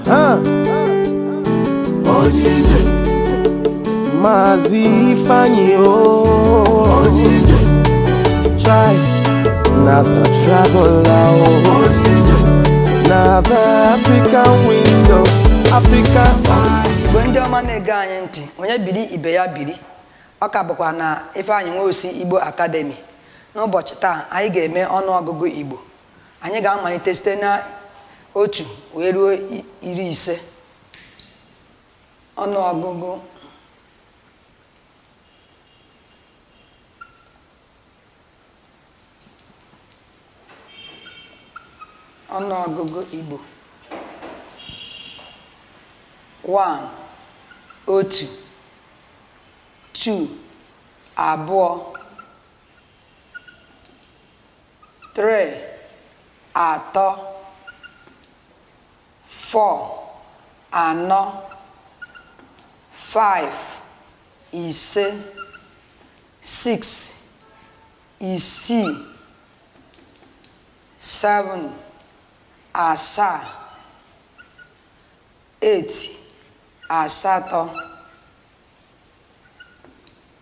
Aha. Maazị Ifeanyi o Chai na the traveler o na the African window Africa Igbo ndị ọma na-ege anyị ntị onye biri ibe ya biri ọ ka bụkwa na Ifeanyị Nwosu Igbo Academy n'ụbọchị taa anyị ga-eme ọnụọgụgụ Igbo anyị ga-amalite site na otu wee ruo iri ise ọnụọgụgụ ọnụọgụgụ Igbo 1 otu 2 abụọ three atọ four anọ five ise six isii seven asaa eight asatọ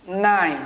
nine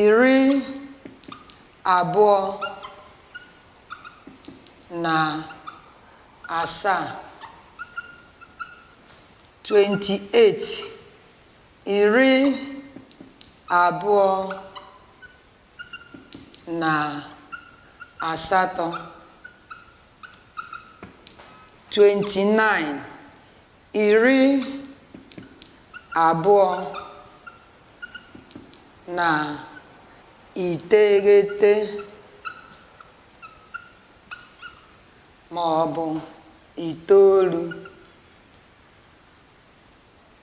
iri abụọ na asaa 28 iri abụọ na asatọ 29 iri abụọ na iteghete ma ọ bụ itoolu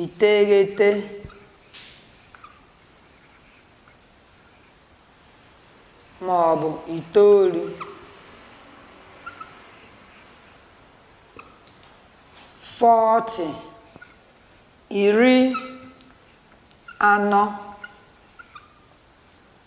iteghete ma ọ bụ itoolu 40 iri anọ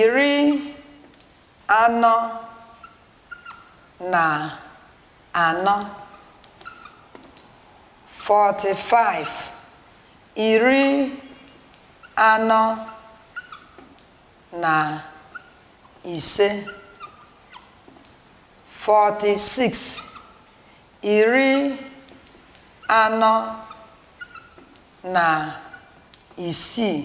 iri anọ na anọ 45 iri anọ na ise 46 iri anọ na isii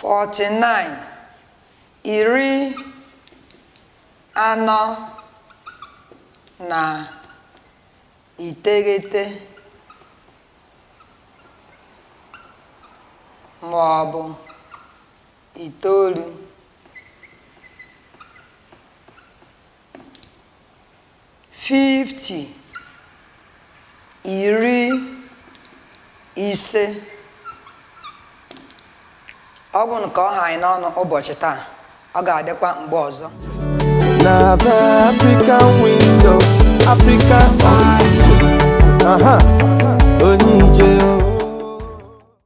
49 iri anọ na iteghete ma ọ bụ itoolu 50 iri ise ọ bụ ka ọ ha anyị n'ọnụ ụbọchị taa ọ ga-adịkwa mgbe ọzọ na be african window african eye aha onye ije o